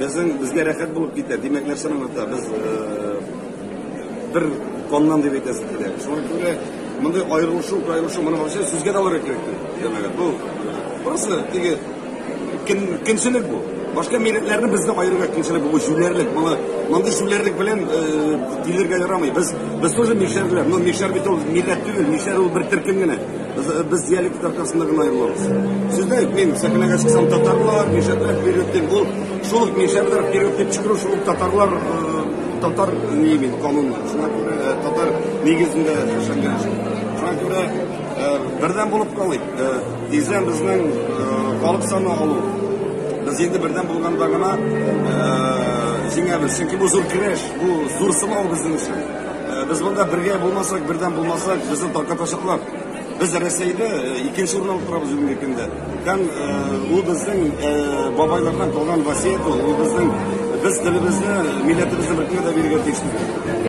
Безнең безгә рәхәт булып китә. Димәк, нәрсә аңлата? Без бер коннан дип әйтәсе килә. Шуңа күрә мондый аерылышу, аерылышу моны вообще сүзгә дә алырга кирәк түгел. Димәк, бу просто теге кем кемчелек бу. Башка милләтләрне безне аерырга кимчелек бу җүләрлек. Моны мондый җүләрлек белән дилергә ярамый. Без без тоже мишәрләр. Ну мишәр бит ул милләт түгел, мишәр ул бер төркем генә. Без диалект аркасында гына аерылабыз. Сездә мин сәхнәгә чыксам татарлар, мишәтләр период дип ул шул ук мишәтләр период дип чыгару шул ук татарлар татар ни бит канунлы. Шуңа күрә татар нигезендә яшәгән. Шуңа күрә бердәм булып калыйк. Тиздән безнең халык саны алу. Без инде бердәм булганда гына җиңәбез. Чөнки бу зур көрәш, бу зур сынау безнең өчен. Без монда бергә булмасак, бердәм булмасак, безне таркатачаклар. Без Рәсәйдә э, икенче урын алып торабыз бүгенге көндә. Һәм э, ул безнең э, бабайлардан калган васият ул, ул безнең без телебезне, милләтебезне бөтенләй дә бирергә тиеш түгел.